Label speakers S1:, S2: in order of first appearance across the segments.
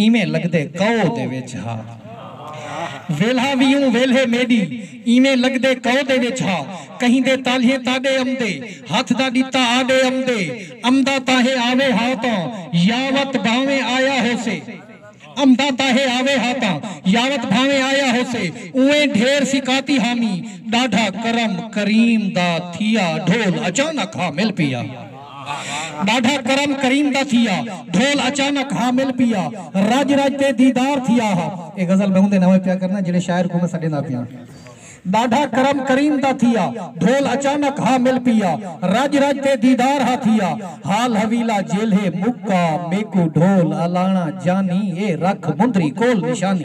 S1: ایویں لگدے کئو دے وچ ہا ویلھا وی اوں ویلھے میݙی ایویں لگدے کئو دے وچ ہا کہیندے تالھیں تاݙے امدے ہتھ دا ݙتا آݙے امدے امدا تاہیں آوے ہا تاں یاوت بھانویں آیا ہوسے امدا تاہیں آوے ہا تاں یاوت بھانویں آیا ہوسے اونویں ڈھیر سکاتی حامی ݙاڈھا کرم کریم دا تھیا ڈھول اچانک ہا مل پیا۔ ݙاڈھا کرم کریم دا تھیا ڈھول اچانک حامل پیا رڄ رڄ تے دیدار تھیا ہا۔ اے غزل میں اوندے ناویں پیا کرنا جیڑھے شاعر کوں میں سݙیندا پیاں۔ ݙاڈھا کرم کریم دا تھیا ڈھول اچانک حامل پیا رڄ رڄ تے دیدار ہا تھیا حال حویلا جیلھے مکا میکوں ڈھول الاݨا جانی اے رکھ مندری کول نشانی۔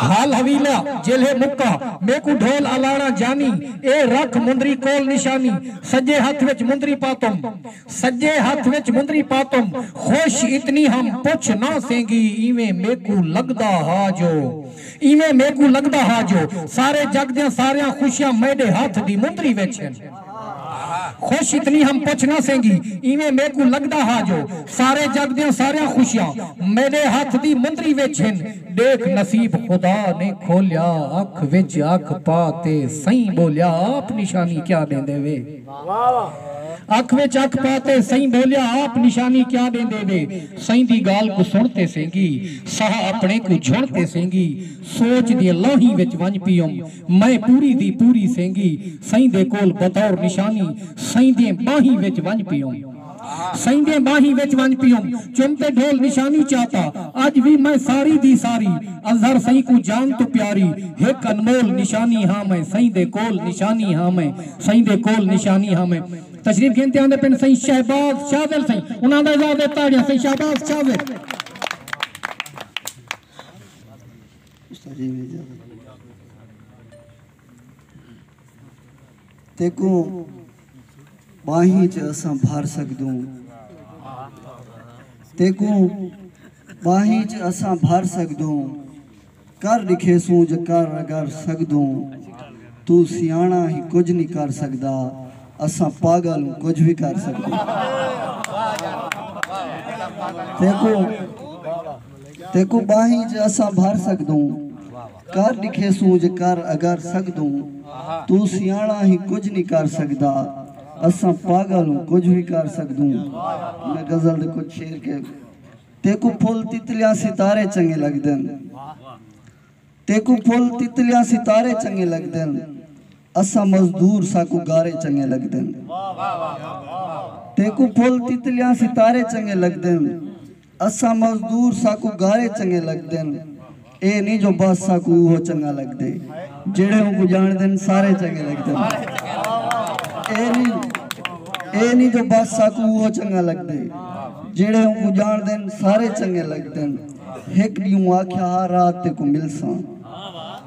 S1: ہال حویلہ جیلھے مکا میکوں ڈھول الاڑاں جانی اے رکھ مندری کول نشانی سجے ہتھ وچ مندری پاتم سجے ہتھ وچ مندری پاتم خوش اتنی ہم پچھ نہ سینگی ایویں میکوں لگدا ہا جو ایویں میکوں لگدا ہا جو سارے جگ دیاں ساریاں خوشیاں میڈے ہتھ دی مندری وچ ہن۔ خوش اتنی ہم پچھ نہ سینگی ایویں میکوں لگدا ہا جو سارے جگ دیاں ساریاں خوشیاں میڈے ہتھ دی مندری وچ ہن ڈیکھ نصیب خدا نے کھولیا اکھ وچ اکھ پا تے سئیں بولیا آپ نشانی کیا ڈیندے وے اکھ وچ اکھ پا تے سئیں بولیا آپ نشانی کیا ڈیندے وے سئیں دی گال کوں سن تے سینگی ساہ اپنے کوں جھن تے سینگی سوچ دیاں لوہیں وچ ونڄ پیوم۔ میں پوری دی پوری سینگی سئیں دے کول بطور نشانی سئیں دیاں ٻانہیں وچ ونڄ پیوم۔ سئیں دیاں ٻانہیں وچ ونڄ پیوم۔ چم تے ڈھول نشانی چاتا۔ اڄ وی میں ساری دی ساری اظہر سئیں کوں جان توں پیاری ہک انمول نشانی ہاں میں سئیں دے کول نشانی ہاں میں سئیں دے کول نشانی ہاں میں تشریف گھن تے آندے پن سئیں شہباز شاہ زیل سئیں انہاں دا اعزاز ہے تاڑیاں سئیں شہباز شاہ زیل۔
S2: تیکوں ٻانہیں تے اساں بھر سکدوں تیکوں ٻانہیں تے اساں بھر سکدوں کر ݙکھے سوں جے کر اگر سکدوں تو سیاݨا ہی کجھ نہیں کر سکدا اساں پاگل ہوں کجھ بھی کر سکدوں تیکوں تیکوں ٻاہیں ج اساں بھر سڳدوں کر ݙکھیسوں ج کر اگر سڳدوں توں سیاݨا ہیں کجھ نی کر سڳدا اساں پاڳل ہوں کجھ وی کر سڳدوں میں غزل دے کجھ شعر کے تیکوں پھل تتلیاں ستارے چنگے لڳدن تیکوں پھل تتلیاں ستارے چنگے لڳدن۔ اساں مزدور ساکوں گارے چنگے لگدن تیکوں پھل تتلیاں ستارے چنگے لگدن اساں مزدور ساکوں گارے چنگے لگدن اے نی جو بس ساکوں اوہو چنگا لگدے جیڑھے اونکوں جانڑدن سارے چنگے لگدن اے نی اے نی جو بس ساکوں اوہو چنگا لگدے جیڑھے اونکوں جانڑدن سارے چنگے لگدن ہک ڈینہوں آکھیا ہا رات تیکوں ملساں۔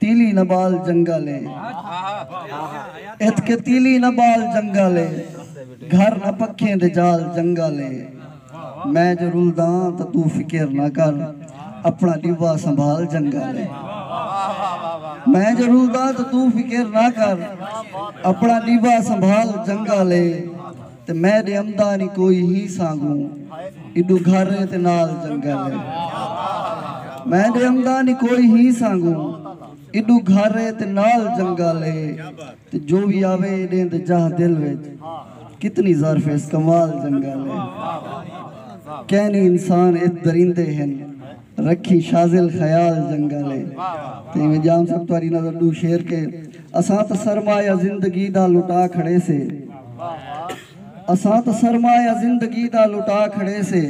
S2: تیلی نہ بال جنگل اے اتکے تیلی نہ بال جنگل اے گھر نہ پکھیں دے جال جنگل اے میں جو رلداں تاں توں فکر نہ کر اپنا ڈیوا سنبھال جنگل اے میں جو رلداں تاں توں فکر نہ کر اپنا ڈیوا سنبھال جنگل اے۔ تے میں ݙے امدا نی کوئی ہی سانگوں ایڈو گھر اے تے نال جنگل اے میں ݙے امدا نی کوئی ہی سانگوں ایڈو گھر اے تے نال جنگل اے تے جو وی آوے ایݙیں دے جاہ دل وچ کتنی ظرف ایس کمال جنگل اے کینی انسان ات درندے ہن۔ رکھی شاذل خیال جنگل اے تے ایویں جام صاحب تہاڈی نظر ڈو شعر کے اساں تاں سرمایہ زندگی دا لٹا کھڑے سے اساں تاں سرمایہ زندگی دا لٹا کھڑے سے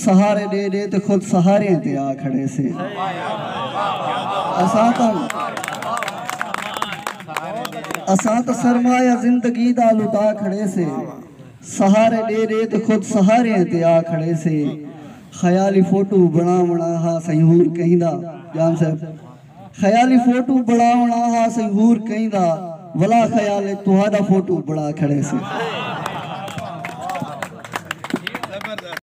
S2: سہارے ڈے ڈے تے خود سہاریں تے آ کھڑے سے اساں تاں اساں تاں سرمایہ زندگی دا لٹا کھڑے سے سہارے ڈے ڈے تے خود سہاریں تے آ کھڑے سے۔ خیالی فوٹو بنڑاونڑاں ہا سئیں ہور کہیں دا جام صاحب خیالی فوٹو بنڑاونڑاں ہا سئیں ہور کہیں دا ولا خیال اچ تہاڈا فوٹو بنڑا کھڑے سے۔